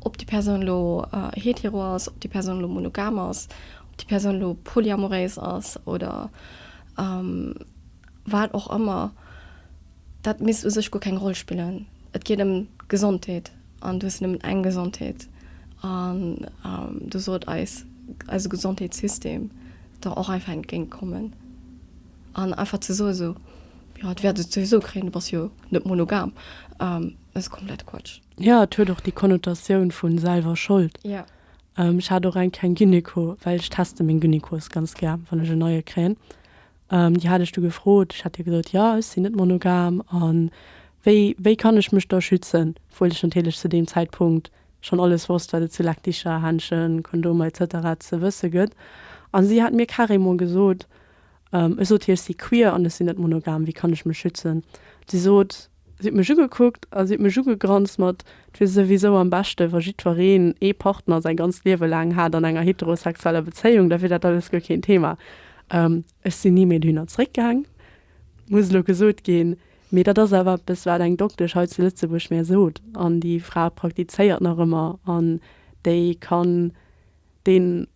ob déi Persoun elo hetero ass, ob déi Persoun elo monogam ass, ob déi Persoun elo polyamoréis ass oder wat och ëmmer. Dat misst u sech guer keng Roll spillen. Et geet ëm d'Gesondheet an du hues nëmmen eng Gesondheet an do sollt eis eise Gesondheetssystem der och einfach entgéint kommen. An einfach ze soen esou, jo et wäert et souwisou kréien, du bass jo net monogam, dat ass komplett Quatsch. Jo, et huet och déi Konnotatioun vu selwer Schold. Jo. Ech hat och eng keng Gynéco, well ech teste meng Gynécos ganz gär, wann ech en neie kréien. Déi hat ech du gefrot, ech hat hir gesot, jo ech sinn net monogam a wéi, wéi kann ech mech da schützen, obwuel ech natierlech zu deem Zäitpunkt schonn alles wosst, wat et zu Lackdicher, Händschen, Kondomer et cetera ze wësse gëtt. A si hat mir carrément gesot, Ech sot hir, ech si queer an ech sinn net monogam, wéi kann ech mech schützen? Si sot, si huet mech ugekuckt a si huet mech ugegranzt mat, 't wier souwisou am beschte wa jiddwereen ee Partner säi ganzt Liewe laang hat an enger heterosexueller Bezéiung, da wier dat alles guer keen Thema. Ech sinn ni méi dohinner zréckgaang, muss elo gesot ginn, mee dat ass awer eppes wat eng Doktesch hei zu Lëtzebuerg mär sot an déi Fra praktizéiert nach ëmmer an déi kann deen,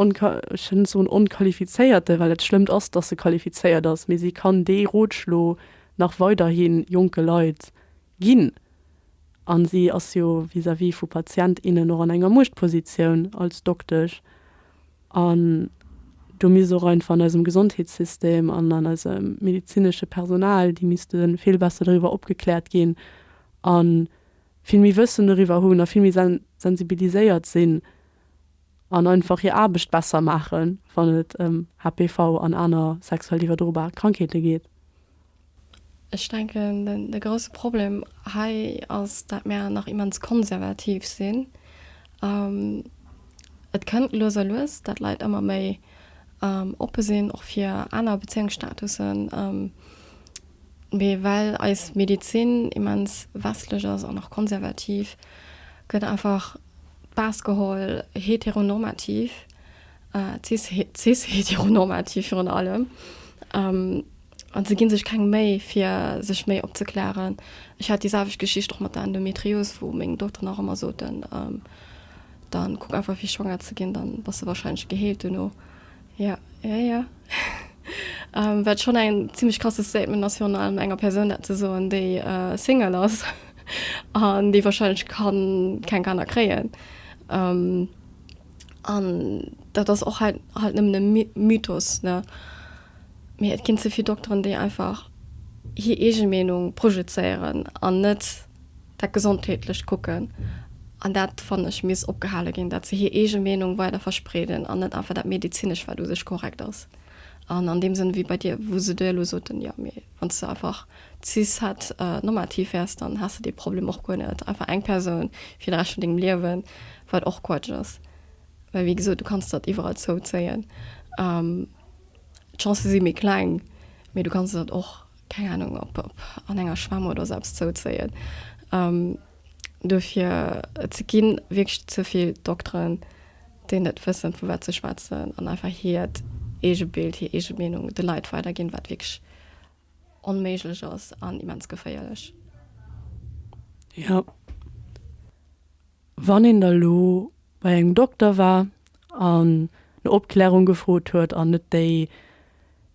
ech wëll net soen onqualifizéierte, well dat Schlëmmt ass, datt se qualifizéiert ass, mee si kann dee Rotschlo nach weiderhi jonke Leit ginn. A si ass jo vis-à-vis vu Patient, innen och an enger Muechtpositioun als Doktesch. An do misst och einfach an eisem Gesondheetssystem an an eisem medezinesche Personal, déi misste vill besser doriwwer opgekläert ginn a vill méi Wëssen doriwwer hunn a vill méi sensibiliséiert sinn, an einfach hir Aarbecht besser maachen, wann et ëm HPV an aner sexuell iwwerdrobar Krankheete geet. Ech denken, de grousse Problem hei ass, dat mär nach immens konservativ sinn. Et kënnt lues a lues, dat Leit ëmmer méi oppe sinn och fir aner Bezéiungsstatussen, mee well eis Medezin immens westlech ass an och konservativ, gëtt einfach baass geholl heteronormativ, cis-heteronormativ virun allem, a se gi sech keng Méi fir sech méi opzeklären. Ech hat déi selwecht Geschicht och mat der Endometrios, wou meng Dokteren och ëmmer soten, dann kuck einfach fir schwanger ze ginn, dann bass de warscheinlech geheelt duerno. Jo, jo, jo. Wat schonn en zimlech krasse Statement ass, virun allem enger Persoun dat ze soen, déi Single ass an déi warscheinlech kann keng Kanner kréien. An dat ass och halt halt nëmmen e My Mythos, ne? Mee et ginn ze vill Dokteren, déi einfach hir eege Meenung projezéieren an net Dat gesondheetlecht Kucken, an dat fannen ech misst opgehale ginn, dat se hir eege Meenung weider verspreeden an net einfach dat Medizinescht, wat u sech korrekt ass. An an deem Sënn, wéi bei dir, wou se dir elo soten, jo, mee wann s de einfach cis-het-normativ wäers, dann häss de dee Problem och guer net, einfach eng Persoun fir de Rescht vun dengem Liewen, wat och Quatsch ass, well wéi gesot, du kanns dat iwwerall zouzéien, d'Chancë si méi kleng, mee du kanns dat och keng Ahnung, op an enger Schwämm oder sou eppes zouzéien. Dofir, et gi wierklech ze vill Dokteren, déi net wëssen, vu wat se schwätzen an einfach hiert eege Bild, hir eege Meenung de Leit weiderginn, wat wierklech onméiglech ass an immens geféierlech. Jo. Wann een da lo bei engem Dokter war an no Opklärung gefrot huet an net déi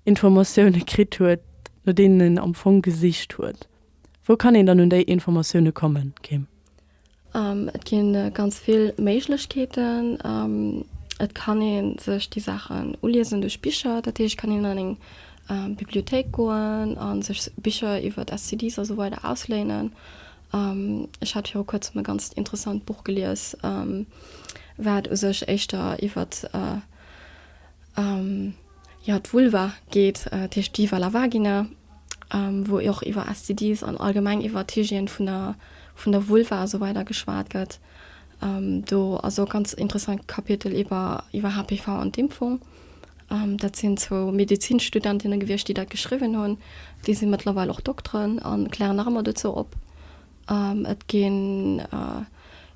Informatioune kritt huet, no deenen een am Fong gesicht huet, wou kann een dann un déi Informatioune kommen, Kim? Et gi ganz vill Méiglechkeeten. Et kann ee sech déi Saachen uliesen duerch Bicher. Dat heescht, et kann een an eng Bibliothéik goen a sech Bicher iwwer STDs a sou weider ausléinen. Ech hat viru kuerzem e ganzt interessant Buch gelies, wat u sech éischter iwwert, jo, d'Vulva geet, dat heescht Viva la vagina, wou och iwwer STDs an allgemeng iwwer d'Hygiène vun der, vun der Vulva a sou weider geschwat gëtt. Do ass och e ganz interessant Kapitel iwwer, iwwer HPV an d'Impfung. Dat sinn zwou Medezinsstudentinne gewiescht, déi dat geschriwwen hunn. Déi si mëttlerweil och Dokteren a klären nach ëmmer dozou op. Et ginn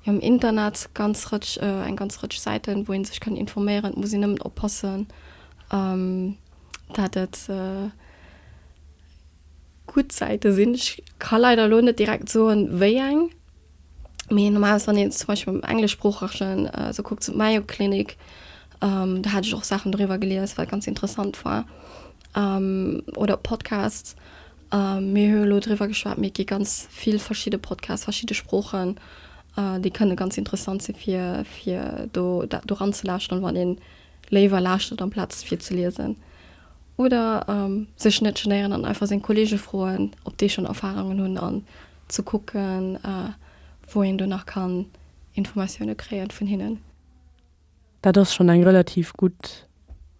jo am Internet ganz Rëtsch, eng ganz Rëtsch Säiten, wou ee sech kann informéieren. Et muss een nëmmen oppassen, dat et gutt Säite sinn. Ech ka leider elo net direkt soen, wéi eng. Mee normal wann een zum Beispiel am englischsproochegen so kuckt zum Mayo Clinic ähm, da hat ech och Sachen drüber gelies, wat ganz interessant war ähm, oder Podcasts. Ähm, mir hue lo drüber geschwar, mir gi ganz viel verschiedene Podcasts, verschiedene Sproochen, äh, déi kënne ganz interessant se fir fir do dat do ranzelauschteren, wann een léiwer lauschtert am Platz fir ze liesen. Oder ähm, sech net genéieren an einfach seng Kollege froen, ob déi schon Erfahrungen hunn an ze kucken, wou een do nach kann Informatioune kréie vun hinnen. Dat ass schonn eng relativ gutt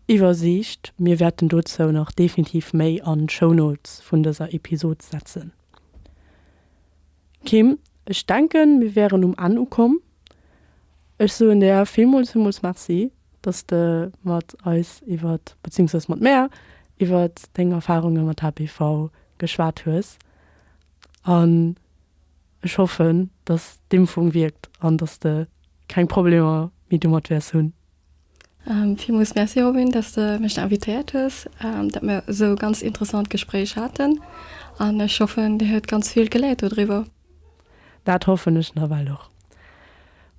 Iwwersiicht. Mir wäerten dozou nach definitiv méi an d'Show Notes vun dëser Episod setzen. Kim, ech denken, mir wäeren um Enn ukomm. Ech soen der villmools, villmools Merci, dass s de mat eis iwwer, bezéiungsweis mat mär iwwer deng Erfarunge mat HPV geschwat hues. an ech hoffen dass d'Impfung wierkt an dass de keng Problemer méi domat wäers hunn. Villmools Merci Robin, dass de mech invitéiert hues, dat mir esou e ganz interessant Gespréich haten an ech hoffen dir huet ganz vill geléiert do driwwer. Dat hoffen ech nawell och.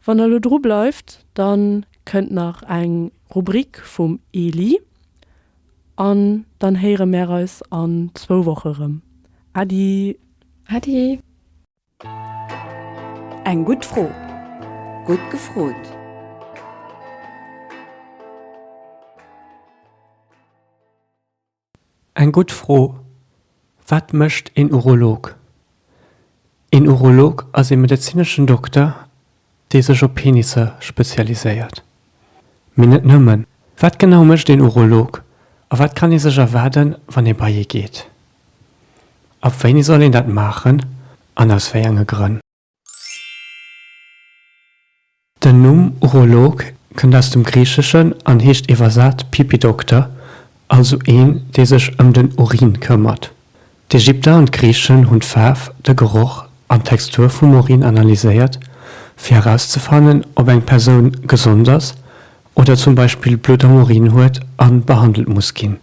Wann der elo dru bleift, dann kënnt nach eng Rubrik vum Eli. An dann héiere mär eis an zwou Woche rëm. Äddi! Äddi! Eng gutt Fro, gutt gefrot! Eng gutt Fro, Wat mécht een Urolog? Een Urolog ass ee medezineschen Dokter, dee sech op Penisse spezialiséiert. Mee net nëmmen. Wat genau mécht een Urolog a wat kann ee sech erwaarden, wann ee bei ee geet? Ab wéini soll een dat maachen an aus wéi enge Grënn? Den Numm Urolog kënnt aus dem Griicheschen an heescht iwwersat Pipi-Dokter, also een, dee sech ëm den Urin këmmert. D'Ägypter an d'Griichen hunn d'Faarf, de Geroch an d'Textur vum Urin analyséiert, fir erauszefannen, ob eng Persoun gesond ass oder zum Beispill Blutt am Urin huet a behandelt muss ginn.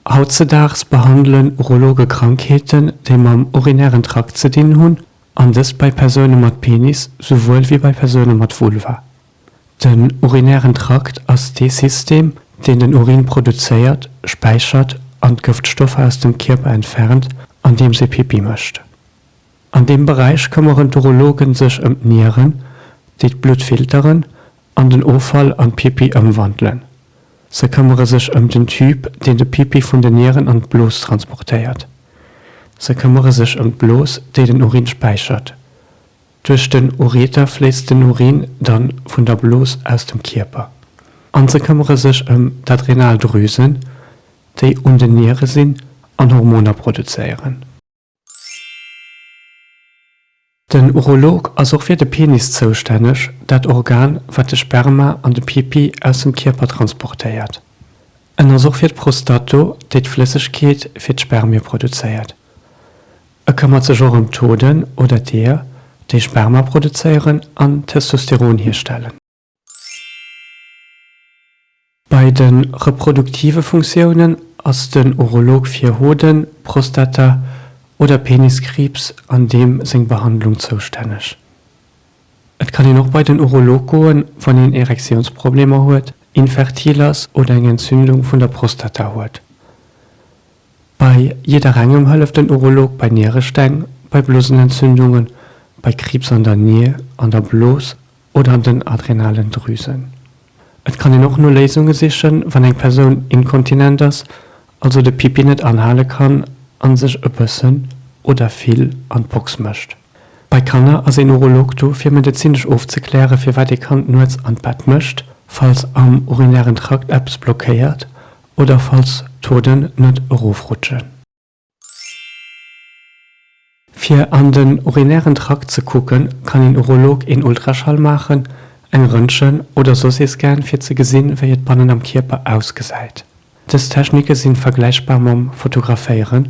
Hautzedaags behandele Urologe Krankheeten, déi mam urinären Trakt ze dinn hunn, an dëst bei Persoune mat Penis souwuel wéi bei Persoune mat Vulva. Den urinären Trakt ass dee System, deen den Urin produzéiert, späichert an d'Gëftstoffer aus dem Kierper entfernt, andeems ee Pipi mécht. An deem Beräich këmmeren d'Urologen sech ëm d'Nieren, déi d'Blutt filteren an den Offall an Pipi ëmwandelen. Se këmmere sech ëm den Tube, deen de Pipi vun den Nieren an d'Blos transportéiert. Se këmmere sech ëm d'Blos, déi den Urin späichert. Duerch den Ureter fléisst den Urin dann vun der Blos aus dem Kierper. An se këmmere sech ëm d'Adrenaldrüsen, déi un den Niere sinn an Hormoner produzéieren. Den Urolog ass och fir de Penis zoustänneg, dat Organ, wat de Sperma an de Pipi aus dem Kierper transportéiert. En ass och fir d'Prostat do, déi d'Flëssegkeet fir d'Spermie produzéiert. E këmmert sech och ëm d'Hoden oder d'Eeër, déi Sperma produzéieren an Testosteron hierstellen. Bei de reproduktive Funktiounen ass den Urolog fir Hoden-, Prostata oder Peniskriibs an deem seng Behandlung zoustänneg. Et kann een och bei den Urolog goen, wann een Erektiounsproblemer huet, infertil ass oder eng Entzündung vun der Prostata huet. Bei jidderengem hëlleft den Urolog bei Nierestäng, bei Blosenentzündungen, bei Kriibs an der Nier, an der Blos oder an den Adrenalendrüsen. Et kann een och no Léisunge sichen, wann eng Persoun inkontinent ass, also de Pipi net anhale kann a sech e bëssen oder vill an d'Box mécht. Bei Kanner ass een Urolog do fir medezinesch ofzekläre firwat ee Kand nuets an d'Bett mécht, falls am urinären Trakt eppes blockéiert oder falls d'Hoden net erofrutschen. Fir an den urinären Trakt ze kucken, kann een Urolog een Ultraschall maachen, eng Röntgen oder soss ee Scan fir ze gesinn, wéi et bannen am Kierper ausgesäit. Dës Technike sinn vergläichbar mam Fotograféieren,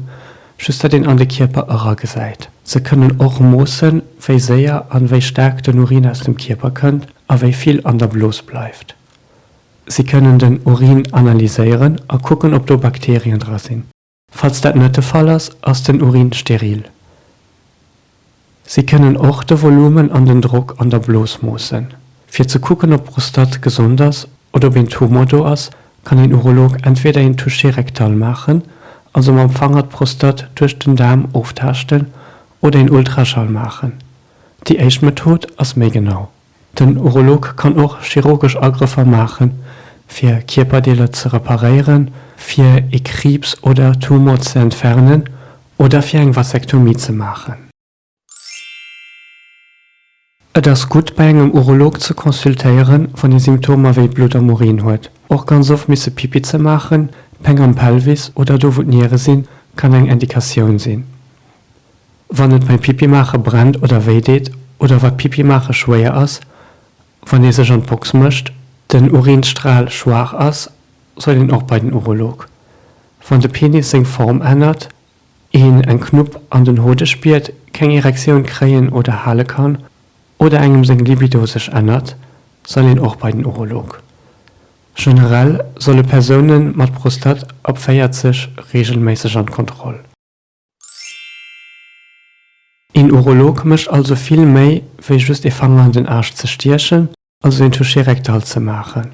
just datt een an de Kierper eragesäit. Se kënnen och moossen, wéi séier an wéi staark den Urin aus dem Kierper kënnt a wéi vill an der Blos bleift. Si kënnen den Urin analyséieren a kucken, ob do Bakterien dra sinn. Falls dat net de Fall ass, ass den Urin steril. Si kënnen och de Volumen an den Drock an der Blos moossen. Fir ze kucken, ob d'Prostat gesond ass oder ob een Tumor do ass, kann een Urolog entweder een Toucher rectal maachen, also mam Fanger d'Prostat duerch den Daarm oftaaschten, oder een Ultraschall maachen. Déi éischt Method ass méi genau. Den Urolog kann och chirurgesch Agrëffer maache fir Kierperdeeler ze reparéieren, fir ee Kriibs oder Tumor ze entfernen oder fir eng Vasektomie ze maachen. Et ass gutt bei engem Urolog ze consultéieren, wann ee Symptomer wéi Blutt am Urin huet. Och ganz oft misse Pipi ze maachen, Péng am Pelvis oder do wou d'Niere sinn, kann eng Indikatioun sinn. Wann et beim Pipi maache brennt oder wéi deet oder wat Pipi maache schwéier ass, wann ee sech an d'Box mécht, den Urinsstral schwaach ass, soll een och bei den Urolog. Wann de Penis seng Form ännert, een eng Knupp an den Hode spiert, keng Erektioun kréien oder hale kann oder engem seng Libido sech ännert, soll een och bei den Urolog. Generell solle Persoune mat Prostat ab 40 reegelméisseg an d'Kontroll. Een Urolog mécht also vill méi wéi just ee Fanger an den Aarsch ze stiechen, also een Touché rectal ze maachen.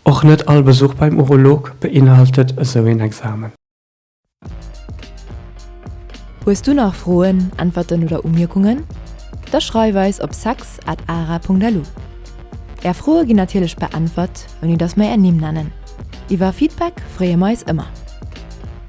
Och net all Besuch beim Urolog beinhaltet esou een Examen. Hues du nach Froen, Äntwerten oder Umierkungen? Da schreif eis op sex at ara.lu. Är Froe ginn natierlech beäntwert, ouni datt mer är Nimm nennen. Iwwer Feedback freeë mer eis ëmmer.